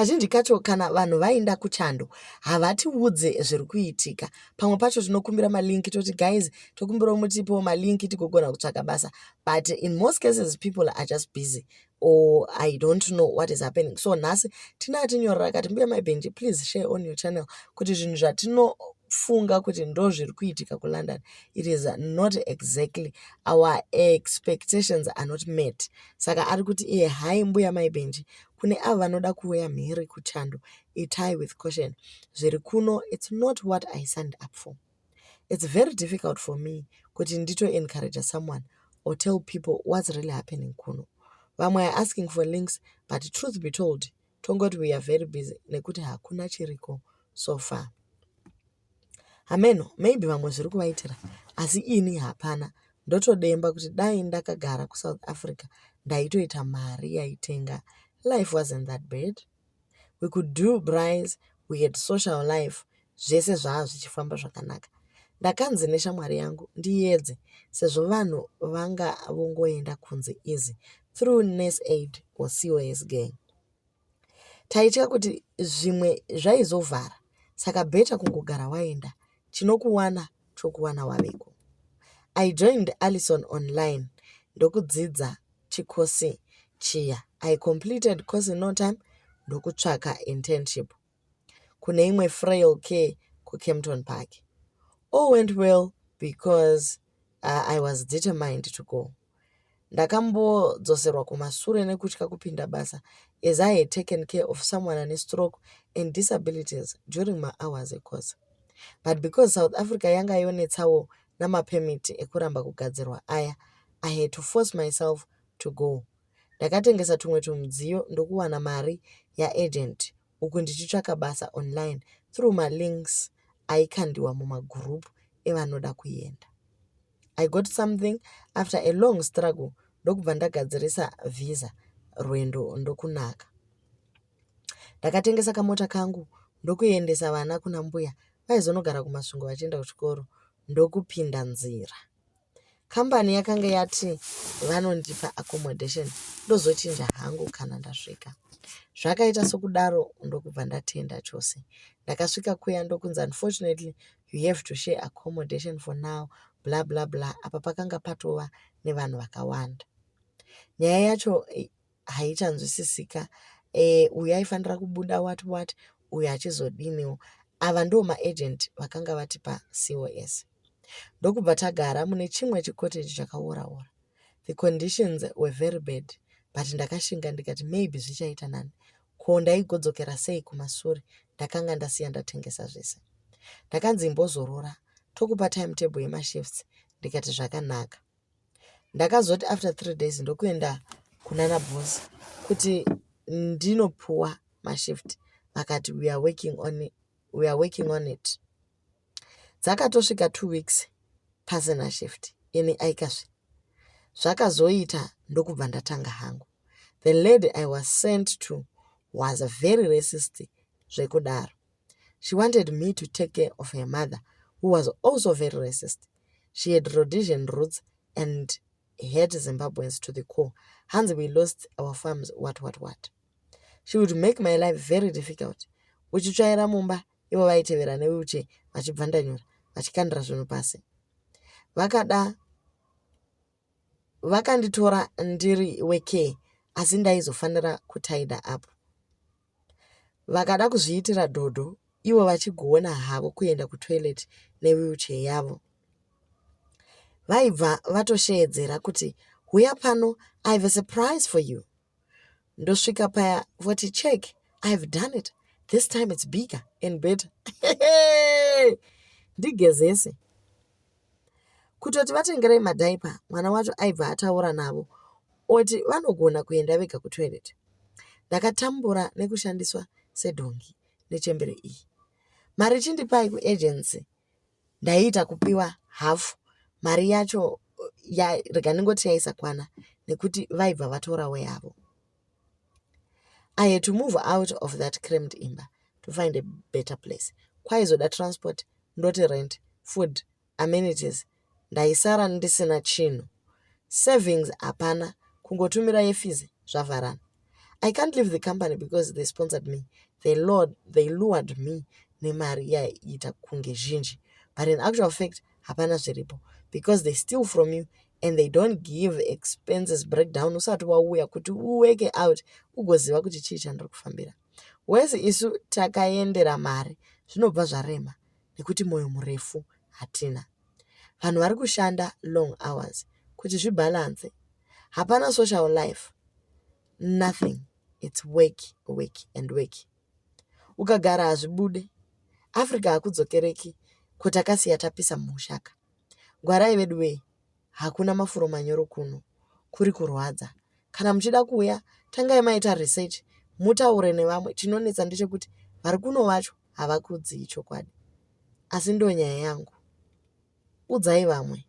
kazhinji kacho kana vanhu vaenda kuchando havatiudze zviri kuitika pamwe pacho tinokumbira malinki toti guys tokumbirawo mutipiwo malinki tigogona kutsvaka basa but in most cases people are just busy or i don't know what is happening so nhasi tina atinyorera akati mbuya maibenji please share on your channel kuti zvinhu zvatinofunga kuti ndo zviri kuitika kulondon it is not exactly our expectations are not met saka ari kuti iye hai mbuya maibenji kune avo vanoda kuuya mhiri kuchando itai with caution zviri kuno its not what i signed up for It's very difficult for me kuti ndito encourager someone or tell people what's really happening kuno. Vamwe are asking for links but truth be told tongoti we are very busy nekuti hakuna chiriko so far. Hameno, maybe vamwe zviri kuvaitira asi ini hapana. Ndotodemba kuti dai ndakagara kuSouth Africa ndaitoita mari yaitenga. Life wasn't that bad. we could do rice we had social life zvese zvaa zvichifamba zvakanaka. Ndakanzi neshamwari yangu ndiedze sezvo vanhu vanga vongoenda kunze easy through nurse aid or cos gang. Taitya kuti zvimwe zvaizovhara saka better kungogara waenda chinokuwana chokuwana waveko. I joined Alison online ndokudzidza chikosi chiya. I completed course in no time ndokutsvaka internship kune imwe frail care kucampton park. All went well because uh, I was determined to go. Ndakambodzoserwa kumasure nekutya kupinda basa as I had taken care of someone ane stroke and disabilities during my hours ecourse. But because South Africa yanga yonetsawo namapemiti ekuramba kugadzirwa aya, I had to force myself to go. Ndakatengesa tumwe tumudziyo ndokuwana mari yaagent uku ndichitsvaka basa online through malinks aikandiwa mumagroup evanoda kuenda. I got something after a long struggle ndokubva ndagadzirisa visa rwendo ndokunaka. Ndakatengesa kamota kangu ndokuendesa vana kuna mbuya vaizonogara kumasvingo vachienda kuchikoro ndokupinda nzira. Kambani yakange yati vanondipa accommodation ndozochinja hangu kana ndasvika. Zvakaita sokudaro ndokubva ndatenda chose. Ndakasvika kuya ndokunzi unfortunately you have to share accommodation for now bla bla bla apa pakanga patova nevanhu vakawanda. Nyaya yacho haichanzwisisika eh, uyu aifanira kubuda what what uyu achizodiniwo ava ndo maagent vakanga vatipa cos ndokubva tagara mune chimwe chikoteji chakaoraora the conditions were very bad but ndakashinga ndikati maybe zvichaita nani ko ndaigodzokera sei kumasure ndakanga ndasiya ndatengesa zvese ndakanzi imbozorora tokupa timetable yemashifts ndikati zvakanaka Ndakazoti after three days ndokuenda kunana boss kuti ndinopuwa mashift vakati we are working on it, we are working on it. Dzakatosvika two weeks pasina shift ini aikazve zvakazoita ndokubva ndatanga hangu. The lady I was sent to was very racist zvekudaro. She wanted me to take care of her mother who was also very racist. She had Rhodesian roots and hate Zimbabweans to the core. Hanzi we lost our farms what what what. She would make my life very difficult. Uchitsvaira mumba ivo vaitevera newheelchair vachibvandanyura vachikandira zvinhu pasi. Vakada vakanditora ndiri wekee asi ndaizofanira kutaida apo Vakada kuzviitira dhodho ivo vachigona havo kuenda kutoilet newheelchair yavo. Vaibva vatosheedzera kuti huya pano I have a surprise for you. Ndosvika paya voti check I have done it this time it's bigger and better ndigezese. Kutoti vatengerei madhaipa mwana wacho aibva ataura navo oti vanogona kuenda vega kutoireti. Ndakatambura nekushandiswa sedhongi nechembere iyi. Mari chindipai kuejenzi ndaiita kupiwa hafu mari yacho rega ndingoti yaisakwana nekuti vaibva vatorawo yavo. I had to move out of that crammed imba to find a better place. Kwaizoda transport, ndoti rent, food, amenities. Ndaisara ndisina chinhu. Savings hapana, kungotumira yefizi zvavharana. I can't leave the company because they sponsored me. They, lured, they lured me nemari yaiita kunge zhinji. But in actual fact, hapana zviripo because they steal from you and they don't give expenses breakdown usati wauya kuti uweke out ugoziva kuti chii chandiri kufambira wese isu takaendera mari zvinobva zvarema nekuti mwoyo murefu hatina vanhu vari kushanda long hours kuti zvibhalanse hapana social life nothing its work work and work ukagara hazvibude Africa hakudzokereki ko takasiya tapisa mumusha ka ngwarai veduwee hakuna mafuro manyoro kuno kuri kurwadza kana muchida kuuya tangai maita research mutaure nevamwe chinonetsa ndechekuti vari kuno vacho havakudzii chokwadi asi ndonyaya yangu udzai vamwe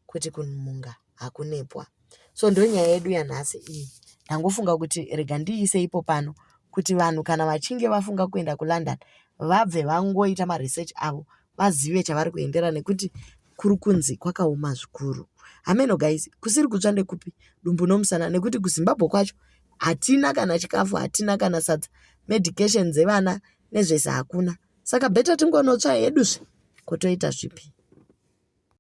kuti kunhunga hakunepwa. So ndonyaya yedu yanhasi iyi. Ndangofunga kuti rega ndiise ipo pano kuti vanhu kana vachinge vafunga kuenda kuLondon vabve vangoita maresearch avo vazive chavari kuendera nekuti kuri kunzi kwakaoma zvikuru. Hameno guys, kusiri kutsva ndekupi dumbu nomusana nekuti kuZimbabwe kwacho hatina kana chikafu, hatina kana sadza, medication dzevana nezvese hakuna. Saka better tingonotsva heduzve kotoita zvipi.